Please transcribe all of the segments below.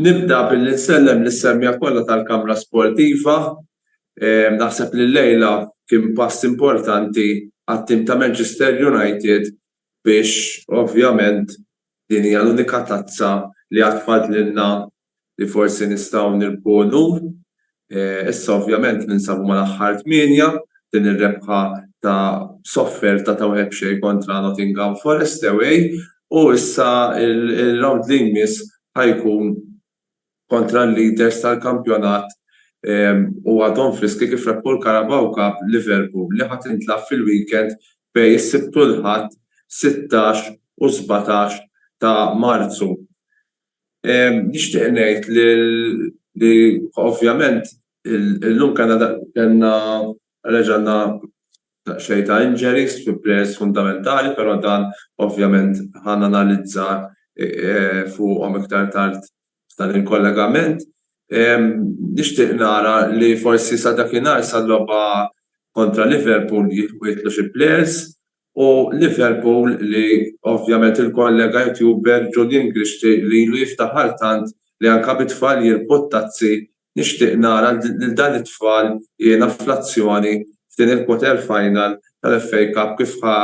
Nibda billi nsellem lis-semmiegħa kollha tal-Kamra Sportiva. Naħseb li llejla kien pass importanti għat-tim ta' Manchester United biex ovvjament din hija l-unika tazza li għad fadlilna li forsi nistgħu nirbħu unur. Issa ovvjament ninsabu mal-aħħar tmienja, din ir-rebħa ta' b'sofferta ta' wieħed b'xejn kontra Nottingham Forest away u issa r-rawnd li jmiss ħa jkun kontra l-leaders tal-kampjonat u għadhom friski kif rebħu l-Carabao Cup, Liverpool, li ħa tintlagħab fil-weekend bejn is-Sibt u l-Ħadd, sittax u sbatax ta' Marzu. Nixtieq ngħid li ovvjament illum kellna kellna reġa' għandna daqsxejn ta' injuries fi players fundamentali però dan ovvjament ħa nanalizza fuqhom iktar tard f'dan il-kollegament. Nixtieq nara li forsi sa dakinhar sal-logħba kontra Liverpool jitlu xi players U Liverpool li ovvjament il-kollega youtuber Julian Grixti li ilu jiftaħ għal tant li anke bi tfal jirkbu t-tazzi nixtieq nara lil dan it-tfal jiena fl-azzjoni f'din il-quarter final tal-FA Cup kif ħa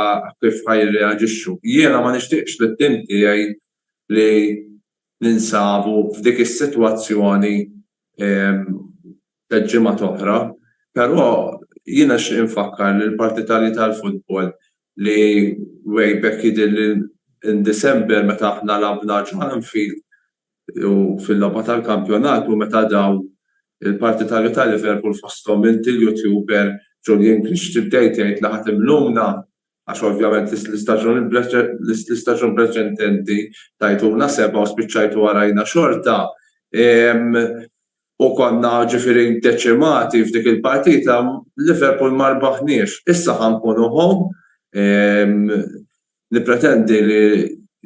kif ħa jirreaġixxu. Jiena ma nixtieqx lit-tim tiegħi li ninsabu f'dik is-sitwazzjoni tliet ġimgħat oħra, però jiena nixtieq infakkar lil partitarji tal-futbol li way back jidhirli in December meta aħna lagħbna ġo Anfield u fil-logħba tal-kampjonat u meta dawn il-partitarju ta' Liverpool fosthom inti l-youtuber Julian Grixti bdejt tgħid li ħa timluna għax ovvjament l-istaġun preċedenti tajtuna sebgħa u spiċċajtu warajna xorta u konna ġifieri deċimati f'dik il-partita, Liverpool ma rbaħniex. Issa ħa nkunu home, nippretendi li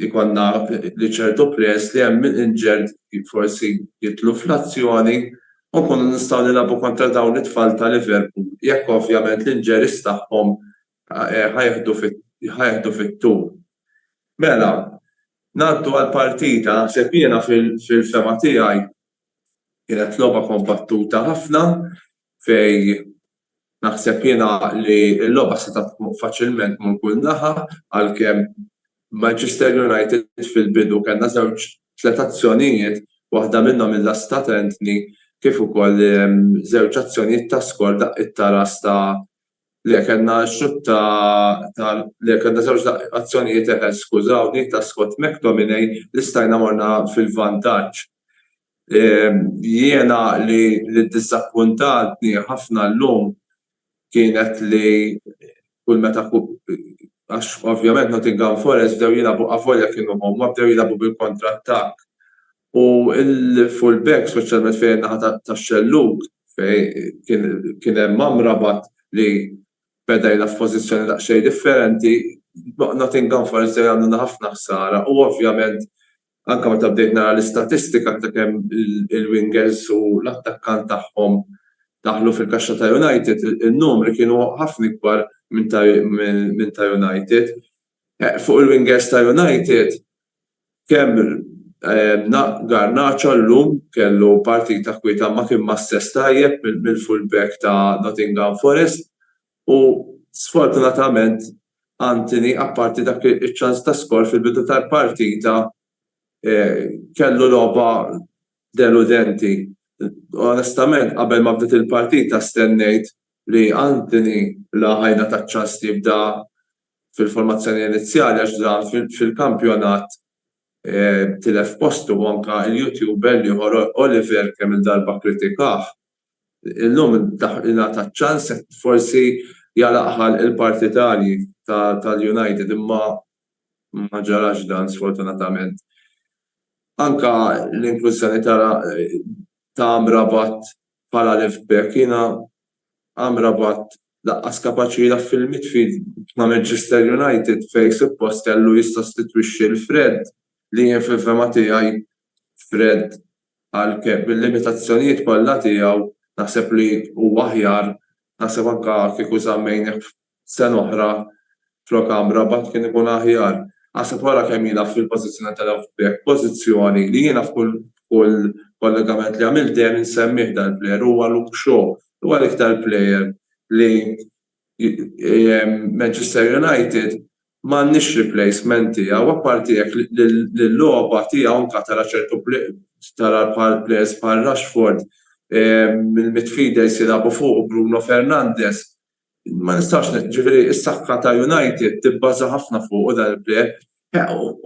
jkollna li ċertu players li hemm injured forsi jidħlu fl-azzjoni u nkunu nistgħu nilagħbu kontra dawn it-tfal ta' Liverpool jekk ovvjament l-injuries tagħhom ħa jeħdu fit-tul. Mela, ngħaddu għall-partita. Naħseb jiena fil-fehma tiegħi kienet logħba kombattuta ħafna fejn naħseb jiena li l-logħba setgħet tmur faċilment mur kull naħa għalkemm Manchester United fil-bidu kellna żewġ, tliet azzjonijiet, waħda minnhom il-last ta' Antony kif ukoll żewġ azzjonijiet ta' skor daqqiet ta' ras ta' Le, kellna xutt ta' ta' le, kellna żewġ azzjonijiet eħes, skużawni, ta' Scott McTominay li stajna morna fil-vantaġġ. Jiena li li ddiżappuntatni ħafna llum kienet li kull meta għax ovvjament Nottingham Forest bdew jilagħbu avolja kienu huma bdew jilagħbu bil-kontrattakk U l-full back, speċjalment fejn in-naħa tax-xellug fejn kien hemm Amrabat li beda jilgħab f'pożizzjoni daqsxejn differenti, Nottingham Forest ġej jagħmluna ħafna ħsara u ovvjament anke meta bdejt nara l-istatistika ta' kemm il-wingers u l-attakkant tagħhom daħlu fil-kaxxa ta' United, in-numri kienu ħafna ikbar minn ta' United. Fuq il-wingers ta' United, Kemm Garnacho llum kellu partita kwieta ma kien ma stess tajjeb mill-full back ta' Nottingham Forest u sfortunatament Antony apparti dak iċ-ċans ta' skor fil-bidu tal-partita kellu logħba deludenti. Onestament qabel ma bdiet il-partita stennejt li Antony la ħa jingħata ċ-ċans li jibda fil-formazzjoni inizjali għax dan fil-kampjonat tilef postu u anke l-YouTuber l-ieħor Oliver kemm-il darba kkritikah. Illum ingħata ċ-ċans forsi jagħlaqha l-partitarji tal-United imma ma ġarax dan sfortunatament. Anke l-inklużjoni ta' Amrabat bħala left back jiena Amrabat Lanqas kapaċi jilgħab fil-midfield ma' Manchester United fejn suppost kellu jissostitwixxi 'l Fred li jien fil-fehma tiegħi Fred għalkemm bil-limitazzjonijiet kollha tiegħu naħseb li huwa aħjar naħseb anke kieku żammejnih sena oħra Flok Amrabat kien ikun aħjar. Aħseb wara kemm jilgħab fil-pożizzjoni ta' left back, pożizzjoni li jiena f'kull f'kull kollegament li għamilt dejjem insemmih dal-plejer, huwa Luke Shaw, huwa l-iktar plejer li Manchester United m'għandhiex replacement tiegħu, apparti jekk l-logħba tiegħu anke tara ċertu tara bħal plejers bħal Rashford, il-midfielders jilagħbu fuqu, Bruno Fernandes, Ma nistax, ġifieri s-saħħa ta' United tibbaża ħafna fuqu dan il-plejer.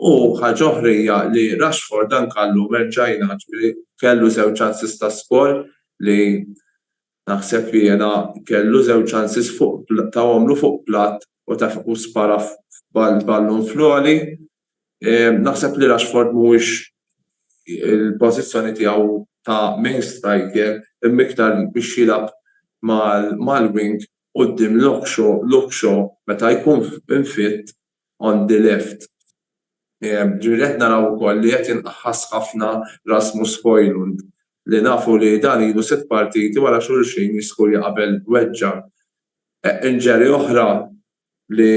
U ħaġa oħra hija li Rashford dan kallu merġajna, ġifieri kellu żewġ chances ta' skoor li naħseb li jiena kellu żewġ chances fuq, tawhomlu fuq platt u spara ballun fl-għoli Naħseb li Rashford mhuwiex il-pożizzjoni tiegħu ta' main striker imma iktar biex jilgħab mal-wing quddiem Luke Shaw meta jkun fit on the left. Ġifieri qed naraw ukoll li qed jinqaħħas ħafna Rasmus Hojlund li nafu li dan ilu sitt partiti wara xulxin jiskurja qabel weġġa'. Injury oħra li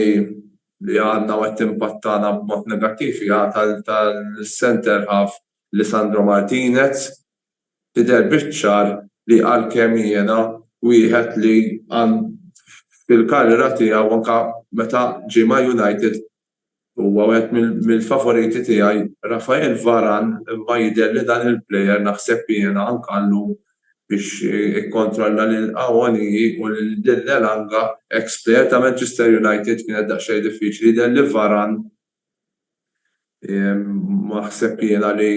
li għandna u qed timpattana b'mod negattiv hija tal-centre half Lisandro Martinez. Tidher biċ-ċar li għalkemm jiena wieħed li fil-karriera tiegħu anke meta ġie ma' United Huwa wieħed mill-favoriti tiegħi. Raphael Varane imma jidher li dan il-player naħseb jiena anka llum biex ikkontrolla lil Awoniyi u lil Elanga, eks player ta' Manchester United, kienet daqsxejn diffiċli. Jidher li Varane naħseb jiena li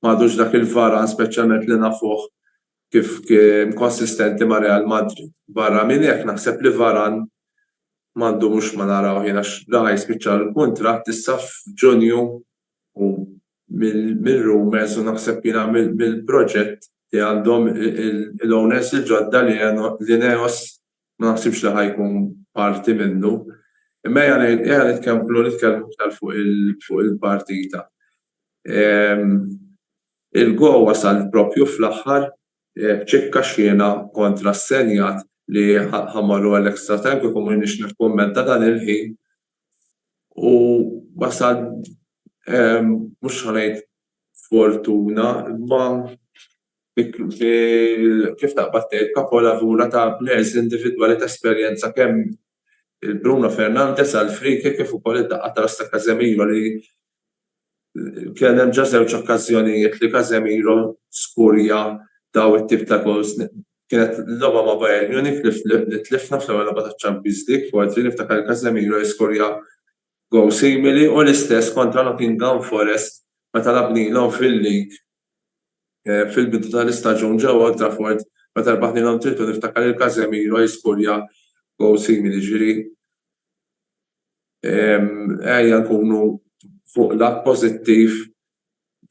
m'għadux dak il-Varane speċjalment li nafuh kif kien konsistenti ma' Real Madrid. Barra minn hekk naħseb li Varane m'għandu mhux ma narawh jien għax ra jispiċċa l-kuntratt issa f'Ġunju u mir-rumours u naħseb jiena mill-proġett li għandhom l-owners il-ġodda li Ineos ma naħsibx li ħa jkun parti minnu. Imma ejja nitkellmu iktar fuq il-partita. Il-GO wasal proprju fl-aħħar b'ċikka xhiena kontra s-Senjat li ħamarru għal extra time kieku ma jiniex nikkummenta dan il-ħin u wasal mhux ħa ngħid b'fortuna imma kif taqbad tgħid kapolavura ta' plejers individwali ta' esperjenza kemm Bruno Fernandes għall-free kick kif ukoll id-daqqa ta' ras ta' Casemiro li Kien hemm ġa żewġ okkażjonijiet li Casemiro skurja dawn it-tip ta' goals. Kienet logħba ma' Bayern Munich li tlifna fl-ewwel logħba taċ-Champions League f'Odri, niftakar li Casemiro jiskurja goal simili u l-istess kontra Nottingham Forest meta lagħbnilhom fil-League fil-bidu tal-istaġun ġewwa Old Trafford meta rbaħnilhom 3-2 niftakar lil Casemiro jiskurja goal simili. Jiġifieri. Ejja nkunu fuq lat pożittiv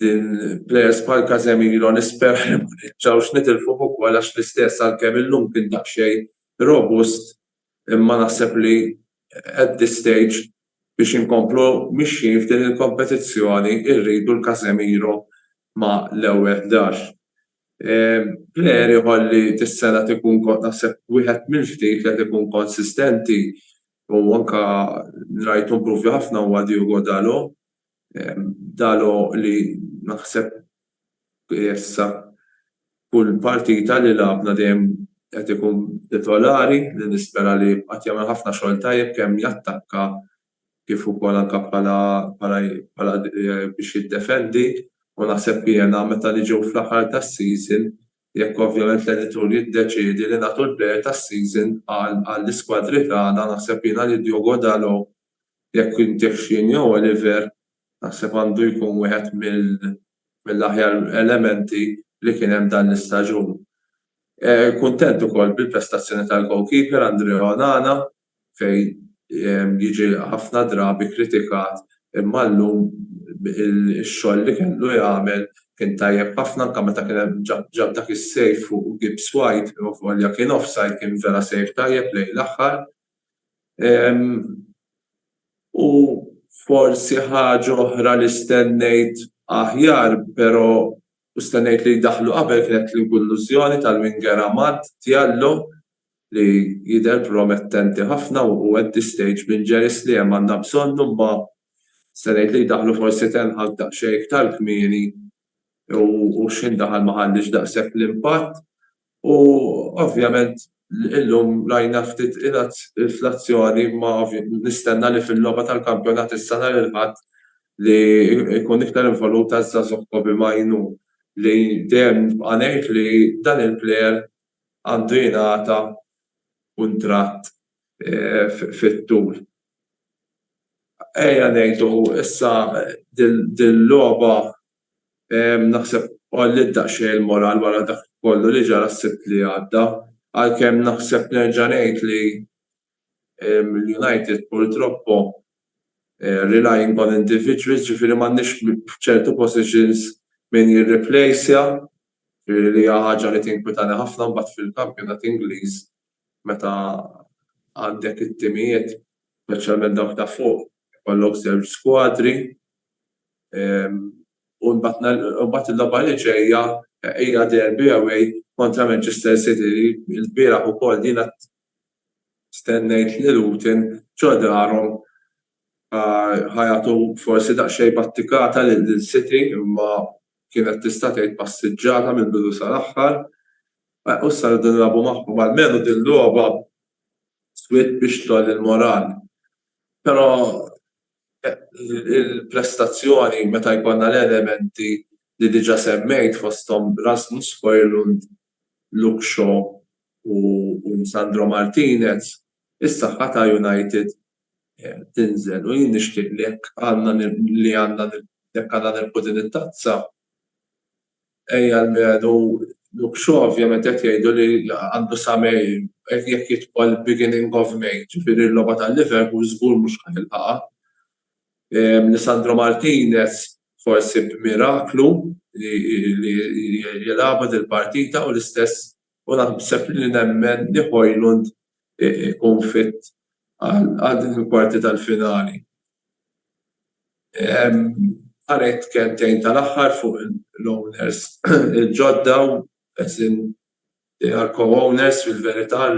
din plejers bħal Casemiro nisperaw li ma nerġgħux nitilfuh ukoll għax l-istess għalkemm illum kien daqsxejn robust imma naħseb li at this stage biex inkomplu mixjin f'din il-kompetizzjoni rridu l-Casemiro ma' l-ewwel ħdax. Plejer ieħor li dis-sena qed ikun naħseb wieħed mill-ftit li qed ikun konsistenti U anke rajtu improvi ħafna huwa Diogo Dalot. Dalot li naħseb issa kull partita li lagħabna dejjem qed ikun titolari li nispera li jibqa' qed jagħmel ħafna xogħol tajjeb kemm jattakka kif ukoll anke bħala bħala biex jiddefendi u naħseb jiena meta niġu fl-aħħar tas-season Jekk ovvjament l-editur jiddeċiedi li nagħtu l-player tas-season għall-iskwadri tagħna naħseb jiena li Diogo Dalot jekk intihx jien jew Oliver naħseb għandu jkun wieħed mill-aħjar elementi li kien hemm dan l-istaġun. Kuntent ukoll bil-prestazzjoni tal-goalkeeper Andrea Onana fejn jiġi ħafna drabi kritikat imma llum ix-xogħol li kellu jagħmel kien tajjeb ħafna anke meta kien hemm ġab dak is-save fuq Gibbs White avolja kien offside kien vera save tajjeb lejn l-aħħar u forsi ħaġa oħra li stennejt aħjar però U stennejt li jdaħħlu qabel kienet l-inkullużjoni tal-winger Amad Diallo li jidher promettenti ħafna u hu at this stage minn Jerry Sliem għandna bżonnu imma stennejt li jdaħħlu forsi Ten Hag daqsxejn iktar kmieni u x'ħin daħal ma ħalliex daqshekk l-impatt U ovvjament illum rajna ftit ingħad fl-azzjoni imma nistenna li fil-logħba tal-kampjonat issa nhar il-Ħadd li jkun iktar involut għaż-żagħżugħ Kobbie Mainoo li dejjem nibqa' ngħid li dan il-plejer għandu jingħata kuntratt fit-tul. Ejja ngħidu issa din il-logħba Naħseb għolliet daqsxejn il-moral wara dak kollu li ġara s-Sibt li għadda, għalkemm naħseb nerġa' ngħid li l-United purtroppo relying on individuals, ġifieri m'għandniex f'ċertu positions min jirriplejsja, ġifieri li hija ħaġa li tinkwitani ħafna mbagħad fil-kampjonat Ingliż meta għandek it-timijiet, speċjalment dawk ta' fuq, ikollok żewġ skwadri u mbagħad il-logħba li ġejja hija derby away kontra Manchester City li l-bieraħ ukoll jiena stennejt li Luton ġo darhom ħajatu forsi daqsxejn battikata lil City imma kienet tista' tgħid passiġġata mill-bidu sal-aħħar. U issa rridu nilagħbu magħhom. Almenu din logħba swiet biex tgħolli l-moral. Però il-prestazzjoni meta jkollna l-elementi li diġà semmejt fosthom Rasmus Hojlund, Luke Shaw u Lisandro Martinez, is-saħħa ta' United tinżel u jien nixtieq li jekk għandna li għandna jekk għandna nilqu din it-tazza ejja almenu Luke Shaw ovvjament qed jgħidu li għandu sa May jekk jidħol beginning of May ġifieri l-logħba ta' Liverpool żgur mhux ħa jilħaqha. Lisandro Martinez forsi b'miraklu li jilagħbha dil-partita u l-istess u naħseb li nemmen li Hojlund ikun fit għal din il-kwarti tal-finali. Ħa ngħid kelmtejn tal-aħħar fuq l-owners il-ġodda, as in they are co-owners fil-verità,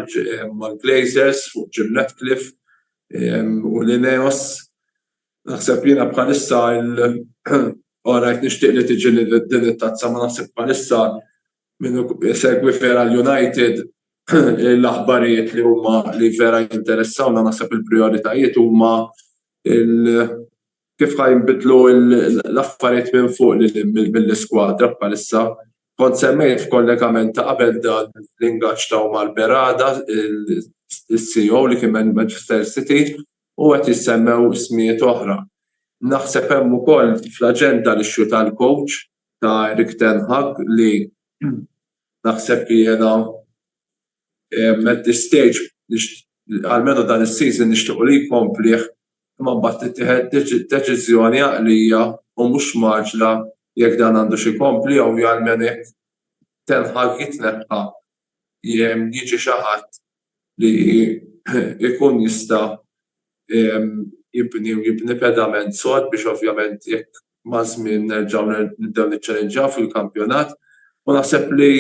mal-Glazers fuq Jim Ratcliffe u l-Ineos. Naħseb li jiena bħalissa, alright nixtieq li tiġi din it-tazza, ma naħseb bħalissa Min isegwi vera l-United l-aħbarijiet li huma li vera jinteressawna naħseb il-prijoritajiet huma kif ħa jinbidlu l-affarijiet minn fuq lil hinn mill-iskwadra bħalissa. Kont semmejt f'kollegament ta' qabel dan l-ingaġġ ta' Omar Berrada, is-CEO li kien minn Manchester City u qed jissemmew ismijiet oħra. Naħseb hemm ukoll fl-aġenda l-issue tal-coach ta' Erik ten Hag li naħseb jiena at this stage almenu dan is-season nixtiequ li jkomplih imma mbagħad tittieħed deċiżjoni għaqlija u mhux mgħaġġla jekk dan għandux ikompli jew almenu jekk ten Hag jitneħħa jiġi xi ħadd li jkun jista' jibni u jibni pedament sod biex ovvjament jekk maż-żmien nerġgħu nibdew niċċalennġjaw fil-kampjonat. U naħseb li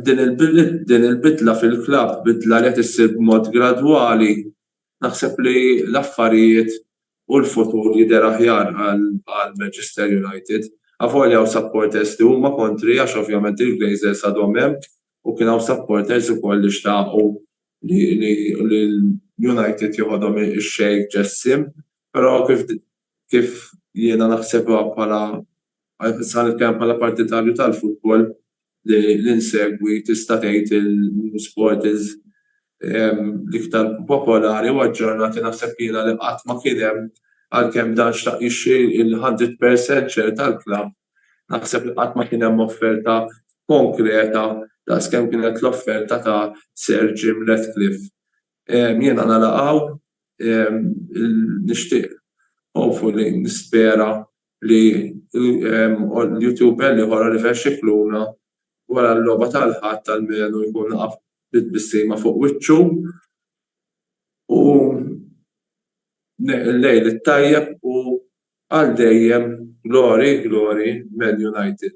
din il-bidla fil-klabb, bidla li qed issir b'mod gradwali, Naħseb li l-affarijiet u l-futur jidher aħjar għal Manchester United. Avolja hawn supporters li huma kontri għax ovvjament il-Glazers għadhom hemm u kien hawn supporters ukoll li xtaqu li l-United joħodhom ix-Sheikh Jassim, però kif kif jiena naħsebha bħala, issa ħa nitkellem bħala partitarju tal-futbol li nsegwi tista' tgħid il-sport is l-iktar popolari u aġġornati naħseb jiena li qatt ma kien hemm għalkemm dan xtaq jixtri l-hundred percent share tal-klabb naħseb li qatt ma kien hemm offerta konkreta daqs kemm kienet l-offerta ta' Sir Jim Ratcliffe. Jiena nagħlaq hawn, nixtieq hopefully nispera li YouTuber l-ieħor Oliver Scicluna wara l-logħba tal-Ħadd almenu jkun waqaf bi tbissima fuq wiċċu u l-lejl it-tajjeb u għal dejjem glory glory Man United.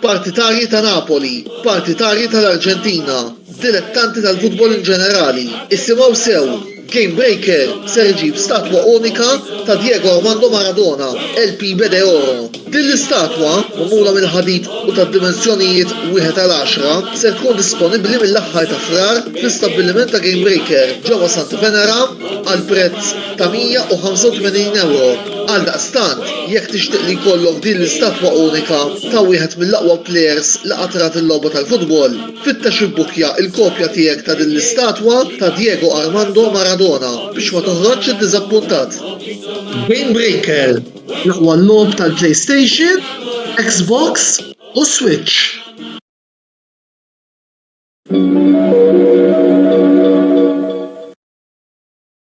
Partitarji ta' Napoli, partitarji tal-Arġentina, dilettanti tal-futbol in ġenerali, issimgħu sew, Game Breaker ser iġib statwa unika ta' Diego Armando Maradona, El Pibe de Oro. Din l-istatwa, magħmula mill-ħadid u tad-dimensjonijiet wieħed għal għaxra, ser tkun disponibbli mill-aħħar ta' Frar fl-istabbiliment ta' Game Breaker ġewwa Santa Venera għal prezz ta' 185 ewro. Għaldaqstant, jekk tixtieq li jkollok din l-istatwa unika ta' wieħed mill-aqwa plejers li qatt rat il-logħba tal-futbol, fittex ibbukkja l-kopja tiegħek ta' din l-istatwa ta' Diego Armando Maradona biex ma toħroġx iddiżappuntat. Game Breaker, l-aqwa logħob tal-PlayStation, Xbox u Switch.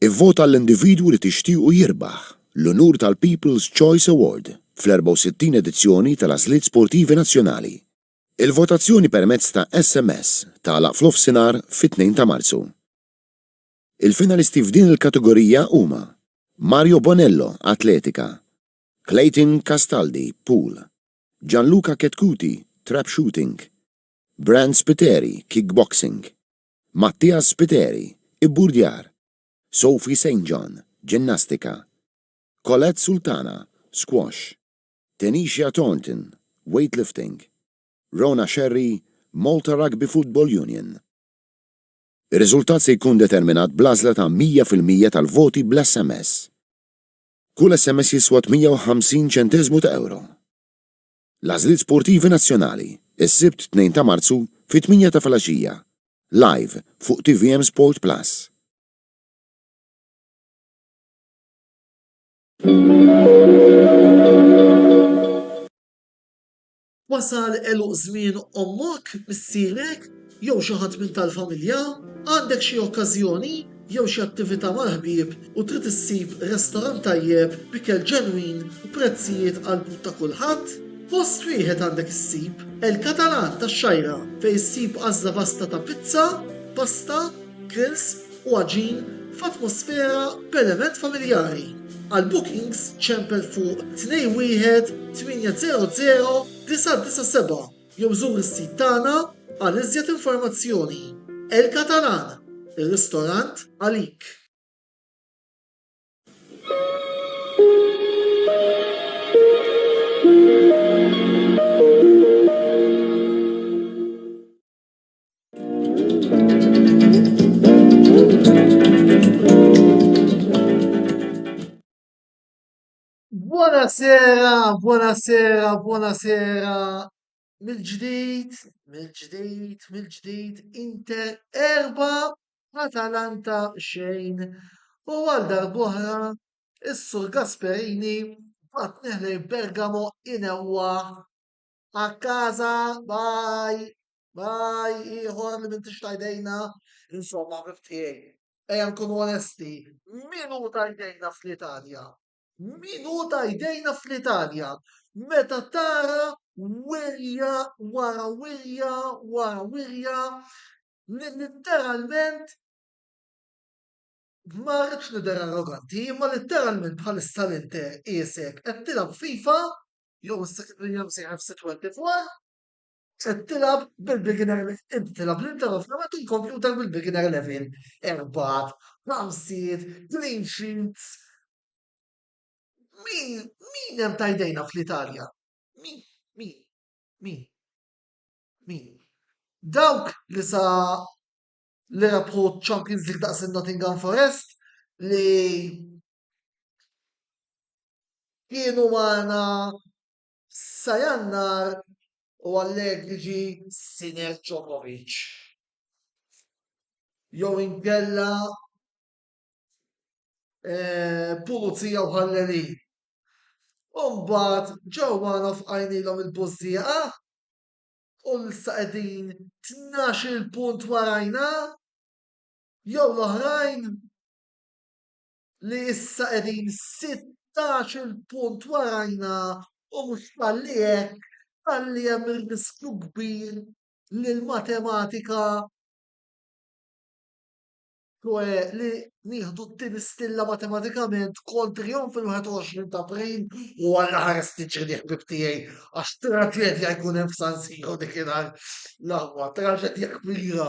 Ivvota għall-individwu li tixtiequ jirbaħ l-unur tal-People's Choice Award fl-64 edizzjoni tal-Għażliet Sportivi Nazzjonali. Il-votazzjoni permezz ta' SMS tagħlaq f'nofsinhar fit-2 ta' Marzu. Il-finalisti f'din il-kategorija huma, Mario Bonello, Atletika, Clayton Castaldi, Pool, Gianluca Chetcuti, Trap Shooting, Brand Spiteri, Kickboxing, Mattias Spiteri, Ibburdjar, Sophie Saint John, Ġinnastika, Colette Sultana, Squash, Tanisha Thornton, Weightlifting, Rona Scerri, Malta Rugby Football Union. Ir-riżultat se jkun determinat bl-għażla ta' 100 fil-mija tal-voti bl-SMS. Kull SMS jiswa 58 ċenteżmu ta' ewro. L-għażliet sportivi nazzjonali, is-Sibt 2 ta' Marzu fit-tmienja ta' filgħaxija, live fuq tvm Sport Plus. Wasal għeluq żmien ommok, missierek, jew xi ħadd minn tal-familja? Għandek xi okkażjoni jew xi attività mal-ħbieb u trid issib restorant tajjeb b'ikel ġenwin u prezzijiet għall-but ta' kulħadd? Post wieħed għandek issib, El Catalan tax-Xgħajra, fejn issib għażla vasta ta' pizza, pasta, grills, u għaġin f'atmosfera b'element familjari. Għal bookings ċempel fuq 21800-997 jew żur is-sit tagħna għal iżjed informazzjoni. El Catalan, ir-ristorant għalik! Buonasera, buonasera, buonasera. Mill-ġdid, mill-ġdid, mill-ġdid, Inter erba, Atalanta xejn. U għal darbohra, is-Sur Gasperini bat neħlej Bergamo inewwa a casa, bye, bye, ieħor li m'intix ta' jdejna. Insomma, ħbib tiegħi, ejja nkunu onesti, min hu ta' jdejna fl-Italja? Min hu ta' jdejna fl-Italja? Meta tara wirja wara wirja wara wirja li litteralment ma rridx nidher arroganti, imma litteralment bħalissa l-Inter qiesek qed tilgħab FIFA jew is-segretarija msejħa f'C24, qed tilgħab bil-beginner inti tilgħab l-inter u fl-aħħar il-kompjuter bil-beginner level. Erbgħat, ħamsiet, clean sheets. Min min hemm ta' jdejna fl-Italja? Min? Min? Min? Min? Dawk li sa li rebħu Champions League daqs il-Nottingham Forest li Kienu magħna sa Jannar u Allegri ġie Sinner Djokovic jew inkella Pulizija u Ħallelin. U mbagħad ġew magħna u fqajnielhom il-bużżieqa u issa qegħdin tnax-il punt warajna jew l-oħrajn. li issa qegħdin 16-il punt warajna u mhux talli hekk talli hemm ir-riskju kbir li l-matematika ċoe li nieħdu t-tieni stilla matematikament kontrihom fil-21 ta' April u Alla ħares tiġri li ħbib tiegħi għax traġedja jkun hemm f'San Siro dikinhar l-aħwa traġedja kbira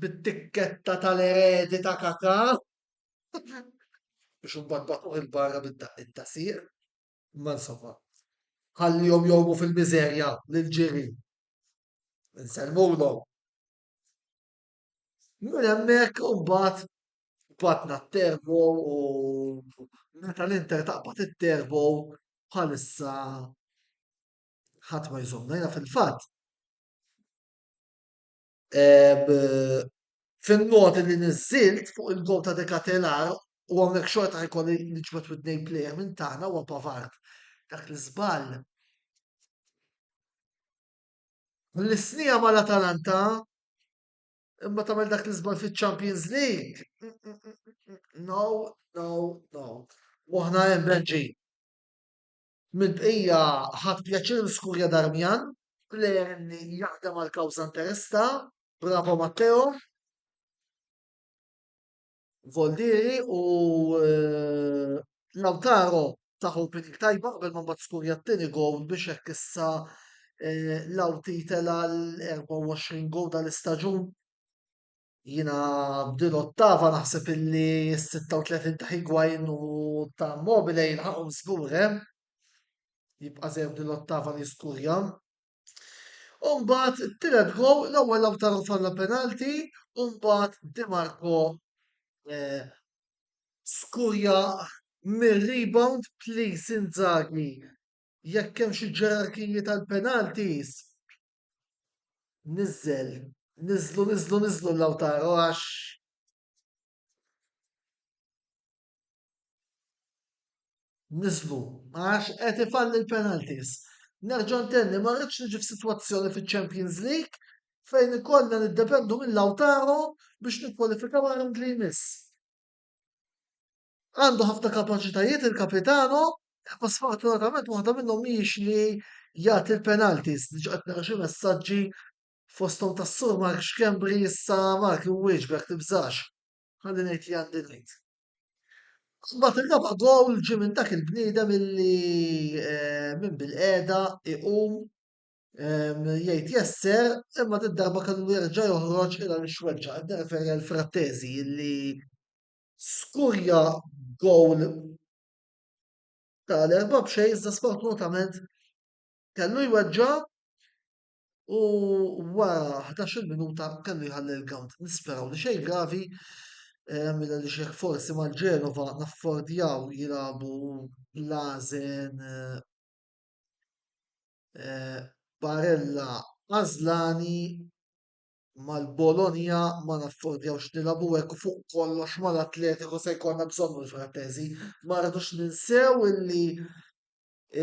bit-tikketta tal-eredi ta' Kaka biex imbagħad bagħtuh 'il barra bid-daqqiet ta' sieq. Imma insomma, ħallihom jgħumu fil-miżerja lill-ġirien. Insellmulhom. Minn hemmhekk imbagħad batna t-terbo u meta l-Inter taqbad it-terbo bħalissa ħadd ma jżommna. Jiena fil-fatt fin-noti li niżżilt fuq il-gowl ta' De Ketelaere u hawnhekk xorta jkolli niġbed wid-nejn plejer minn tagħna huwa Pavard. Dak l-iżball l-isnija mal-Atalanta imma tagħmel dak l-iżball fiċ-Champions League. No, no, no. Moħħna hemm Benġi. Mill-bqija ħadt pjaċir niskurja Darmian, plejer li jaħdem għall-kawża interista, bravo Matteo, Voldieri u Lautaro taħ opening tajba qabel ma mbagħad skurja t-tieni gowl biex hekk issa Lauti tela l-24 gowl tal-istaġun. Jiena b'din l-ottava naħseb illi s-36 ta' Higuain u ta' Immobile jilħaqhom żgur, eh? Jibqa' żejjed b'din l-ottava li skurja. U mbagħad it-tielet gow l-ewwel Lautaro falla penalti u mbagħad Di Marco eh, skurja mir-rebound please Inzaghi jekk hemm xi ġerarkiji tal-penalties Nizzel, niżlu, niżlu, niżlu l-awtar u għax. Niżlu, għax qed ifalli l-penalties. Nerġa' ntenni ma rridx niġi f'sitwazzjoni fiċ-Champions League fejn ikollna niddependu mill-Lautaro biex nikkwalifikaw għal round li jmiss. Għandu ħafna kapaċitajiet il-Capitano, imma sfortunatament waħda minnhom mhijiex li jagħti l-penalties. Diġà qed nara xi messaġġi fosthom tas-Sur Mark Schembri issa Mark inwieġbek tibżax. Ħalli ngħid li għandi ngħid. Mbagħad ir-raba' gowl ġie minn dak il-bniedem illi eh, minn bil-qiegħda iqum ehm, jgħid jesser imma din darba kellu jerġa' joħroġ il għaliex weġġa' qed nirreferi għal Frattesi illi skurja gowl ta' l-erba' b'xejn iżda sfortunatament kellu jweġġa' u wara ħdax-il minuta kellu jħalli l-ground. Nisperaw li xejn gravi eh, mela li xejn forsi ma' Ġenova naffordjaw jilagħbu l-għażen eh, eh, Barella Azlani mal-Bologna ma naffordjawx nilagħbu hekk u fuq kollox mal-Atletico se jkollna bżonnu l-Frattesi. Ma rridux ninsew illi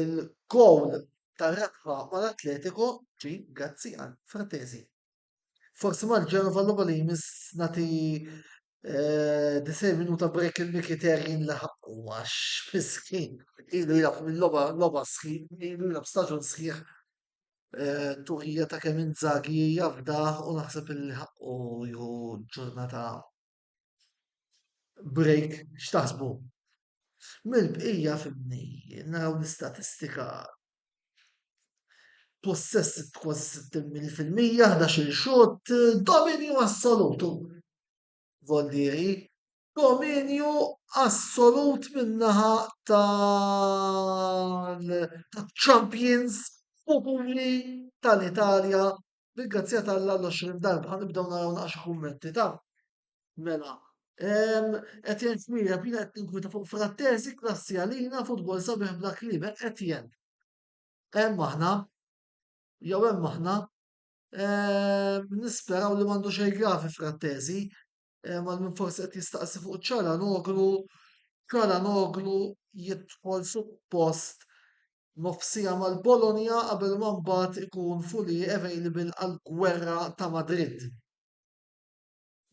il-gowl tar-rebħa mal-Atletico ġie grazzi għal Frattesi. Forsi mal-Genova l-logħba li jmiss nagħti eh, disej minuta break il-Mikiterjin li ħaqqu għax miskin ilu jilgħab mill-logħba logħba sħiħ, ilu jilgħab staġun sħiħ Eh, tuħija ta' kemm inzagi jafdaħ u naħseb illi ħaqqu jħu ġurnata break x'taħsbu. Mill-bqija fimni, naraw l-istatistika possess kważi 60 fil-mija, 11 xot, dominju assolutu. Voldieri, dominju assolut min-naħa taċ-champions futuri tal-Italja bil-grazzja t'Alla l-20 darba. Ħa nibdew naraw naqra xi kummenti ta' mela. Etjen Xmira, bina qed tinkwita fuq frattesi klassi għalina futbol sabiħ bla kliem, Etjen. Hemm aħna, jew hemm aħna, Ehm, nisperaw li mandu xej gravi frattesi, ehm, għal minn forsi qed jistaqsi fuq ċalanoglu, ċalanoglu jidħol suppost nofsija mal-Bologna qabel ma mbagħad ikun fully available għall-gwerra ta' Madrid.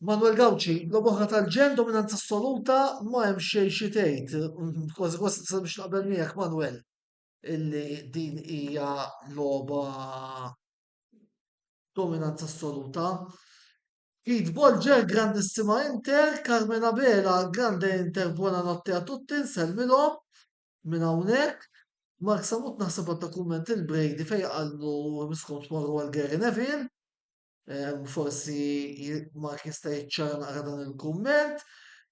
Manuel Gauci, lob oħra tal-ġen dominanza assoluta ma hemm xejn xi tgħid. Kważi kważi biex naqbel miegħek Manuel. illi din hija logħba dominanza assoluta. Kid Bolger, grandissima Inter, Carmen Abela, grande Inter, buona notte a tutti, nsellmilhom minn hawnhekk. Mark Samut naħseb għadda kumment il-Brady fejn qallu miskom tmorru għal Gary Neville. Forsi Mark jista' jiċċara naqra dan il-kumment.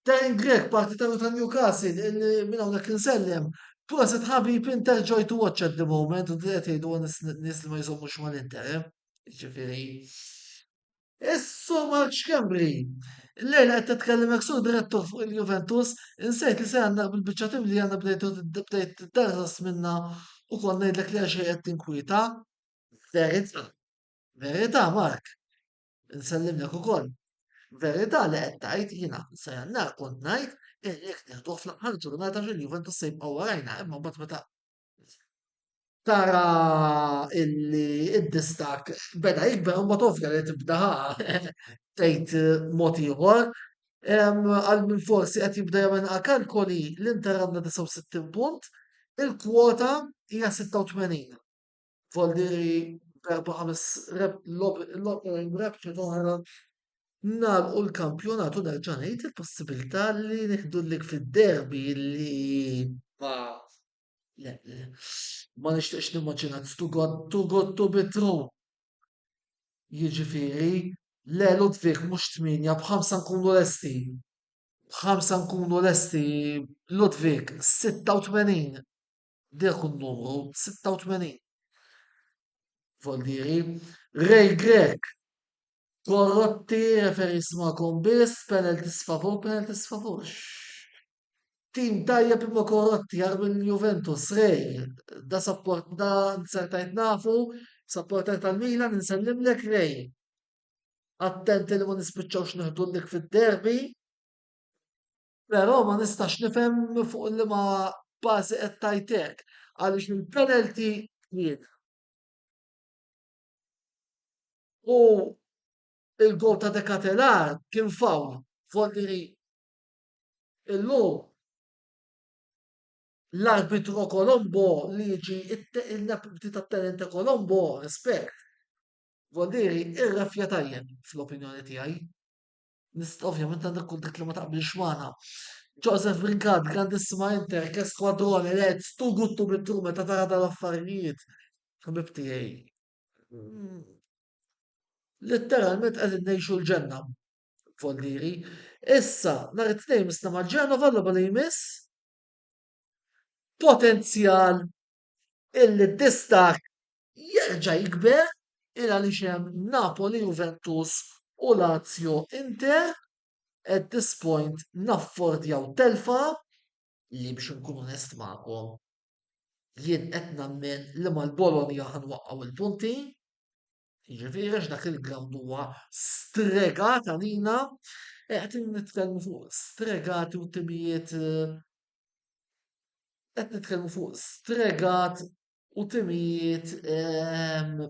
Darren Grek, partitarju ta' Newcastle, minn hawnhekk insellem, proset ħabib Inter joy to watch at the moment, u qed jgħidu nies li ma jżommux mal-Inter, eh? Ġifieri. Issu Mark Xkembri, Lejla qed titkellem hekk sur direttur fuq il-Juventus, insejt li se għandna bil-biċċa tim li għandna bdejt bdejt darras minna u kont ngħidlek li għaxej qed tinkwieta. Verità. Verità Mark, insellimlek ukoll. Verità li qed tgħid, jiena sa Jannar kont ngħid illi jekk nieħduh fl-aħħar ġurnata xi l-Juventus se jibqa' warajna imma mbagħad meta tara illi d-distakk beda jikber imbagħad ovvja li tibda tgħid mod ieħor. Għal min forsi qed jibda jagħmilha kalkoli l-Inter għandha 69 punt, il-kwota hija 86. Voldieri b'erba' ħames rebċet oħra nagħlqu l-kampjonat u nerġa' ngħid il-possibilità li nieħdu l-lig fid-derby li ma le ma nixtieqx nimmaġina tugottu gottu bitru. Jiġifieri le Ludwig mhux tmienja b'ħamsa nkunu lesti. B'ħamsa nkunu lesti Ludwig 86 Dak hu n-numru 86. Foldieri, Ray Grech, Korrotti, referee smakom biss, penalties favur, penalties favur. Tim tajjeb imma korrotti għar minn Juventus, Ray, da support da nsertajt nafu, supporter tal-Milan, nsellimlek Ray. Attenti li ma nispiċċawx neħdullik fid-derby. Però ma nistax nifhem fuq liema bażi qed tgħid hekk għaliex il-penalty jiena. U l-gowl ta' De Ketelaere kien foul volli li illum l-arbitru Colombo li jiġi il-deputy ta' tenente Colombo, rispett, volli irrefja tajjeb fl-opinjoni tiegħi. Nist ovvjament għandha tkun dik li ma taqbilx magħna. Joseph Brincat, grandissima Inter, che squadrone, Reds, tu guttu bittu meta tara dal-affarijiet. Ħbib tiegħi. Mm, Letteralment qegħdin ngħixu l-ġenna. Foldiri. Issa, nhar it-tnejn misna ma' Ġenova l-logħba li jmiss. Potenzjal il-distakk jerġa' jikber il għaliex hemm Napoli, Juventus u Lazio, Inter, at this point naffordjaw telfa li biex inkun onest magħkom jien qed nemmen li mal-Bologna ħa nwaqqgħu l-punti. Jiġifieri għax dak il-ground huwa stregat għalina, eh, qed nitkellmu fuq stregat u timijiet eh, qed nitkellmu fuq stregat u timijiet ehm,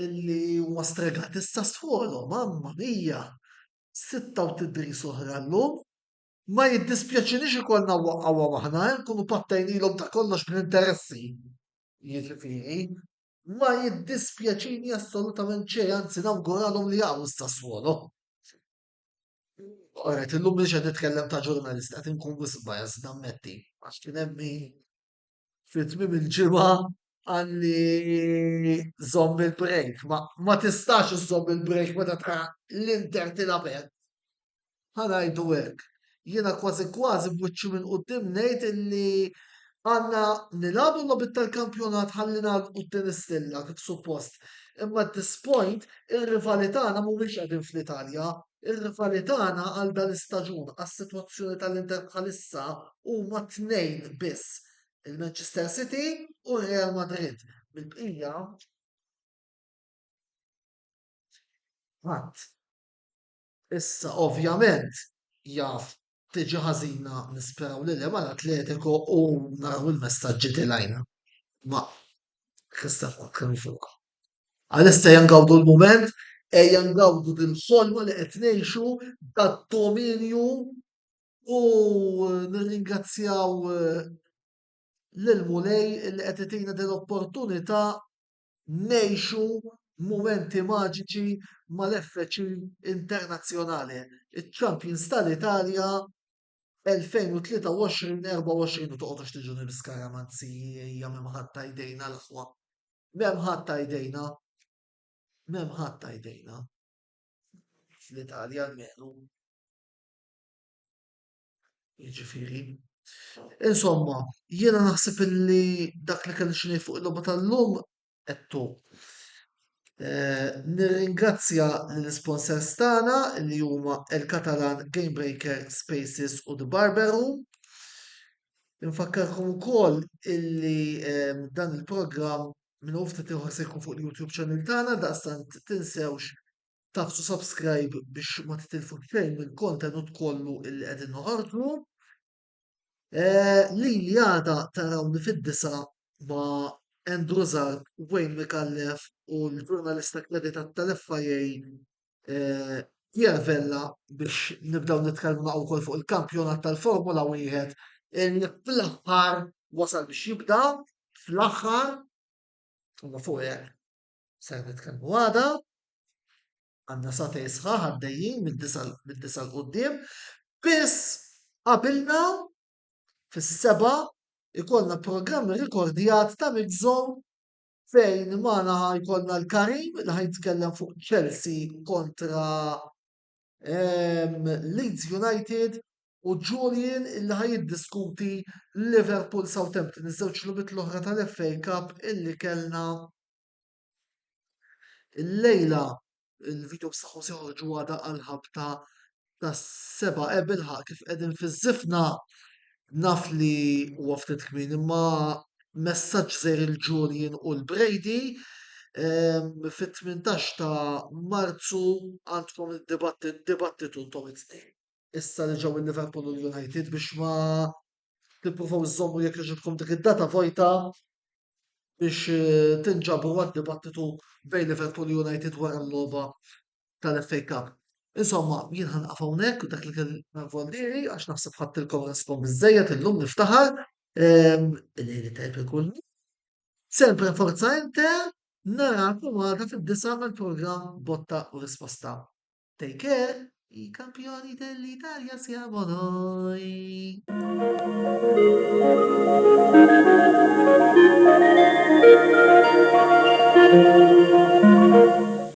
illi huma stregat issa sfolo, mamma mija, sitta u tidri soħra l-lum, ma jiddispjaċinix ikollna waqgħu aħna, eh, nkunu pattajnilhom ta' kollox bl-interessi. Jiġifieri, ma jiddispjaċini assolutament xejn, anzi nawguralhom li jaqgħu s-Sassuolo. Oret, illum mhux qed nitkellem ta' ġurnalist, qed inkun wisq biased nammetti, għax kien hemm min fi tmiem il-ġimgħa qalli żomm il-break, ma tistax iżżomm il-break meta tara l-Inter tilgħab hekk. ħa ngħidu hekk, jiena kważi kważi b'wiċċi minn quddiem ngħid illi għandna nilagħbu l-logħbiet tal-kampjonat ħalli nagħlqu t-tieni stilla kif suppost. Imma at this point ir-rivali tagħna mhumiex qegħdin fl-Italja, ir-rivali tagħna għal dal-istaġun, għas-sitwazzjoni tal-Inter bħalissa huma tnejn biss, il-Manchester City u r-Real Madrid. Mill-bqija ħadd. Issa ovvjament jaf tiġi ħażina nisperaw li le mal Atletico u naraw il-messaġġi tilgħina ma' Christian Falkner fuq. Għalissa ejja ngawdu l-mument, ejja ngawdu dil-ħolma li qed ngħixu tad-dominju u nirringrazzjaw lill-Mulej li qed itina dil-opportunità ngħixu mumenti maġiċi mal-FC Internazzjonale, iċ-champions tal-Italja 2023-24 u toqgħodux tiġuni bi skaramanzija m'hemm ħadd ta' jdejna l-aħwa. M'hemm ħadd ta' jdejna. M'hemm ħadd ta' jdejna. Fl-Italja almenu. Jiġifieri, insomma, jiena naħseb illi dak li kelli xi ngħid fuq il-logħba tal-lum għedtu. Eh, nirringrazzja l-sponsors tagħna li huma El Catalan Game Breaker Spaces u The Barber Room. Infakkarkom ukoll illi eh, dan il-programm minn ufta tiħor se jkun fuq il-YouTube channel tagħna daqstant tinsewx Taf to subscribe biex ma titilfux xejn mill-kontenut kollu illi qegħdin noħorġu. Eh, li li għada tarawni fid-disa ma Andrew Zarb, Wayne Mikallef u l-ġurnalista kreditat tal-FIA eh, Pierre Vella biex nibdaw nitkellmu naqgħu wkoll fuq il-kampjonat tal-Formula wieħed li fl-aħħar wasal biex jibda fl-aħħar u fuq hekk. ser nitkellmu għada, għandna satej sħaħ għaddejjin mid-disa l quddiem, biss qabilna fis-seba' ikollna programm rikordjat ta' Mixzone fejn magħna ħajkollna l-Karim li ħajtkellem fuq Chelsea kontra ehm, Leeds United u Julian illi ħaj jiddiskuti Liverpool Southampton, iż-żewġ lubit l-oħra tal-FA Cup illi kellna il-lejla il-video b'saħħu se joħorġu għada għal-ħabta tas-seba ebilħa kif qegħdin fiż-żifna Naf li huwa ftit kmieni imma messaġġ sejr il-Julian u l-Brady ehm, fit-18 ta' Marzu għandkom id-dibattitu intom it-tnejn. Issa li ġew il-Liverpool u l-United biex ma tippruvaw iżommu jekk iġibkom dik id-data vojta biex eh, tinġabru għad-dibattitu bejn Liverpool u United wara l-logħba tal-FA Cup. Insomma, jien ħanqaf hawnhekk u dak li kien vollieri għax naħseb ħadtilkom naskom biżejjed illum niftaħar. Ehm, Lejli tajb ikun. Sempre forza inte, narakom għada fid-disa mal-programm Botta u Risposta. Take care, i kampjoni dell-Italja siamo noi. Thank you.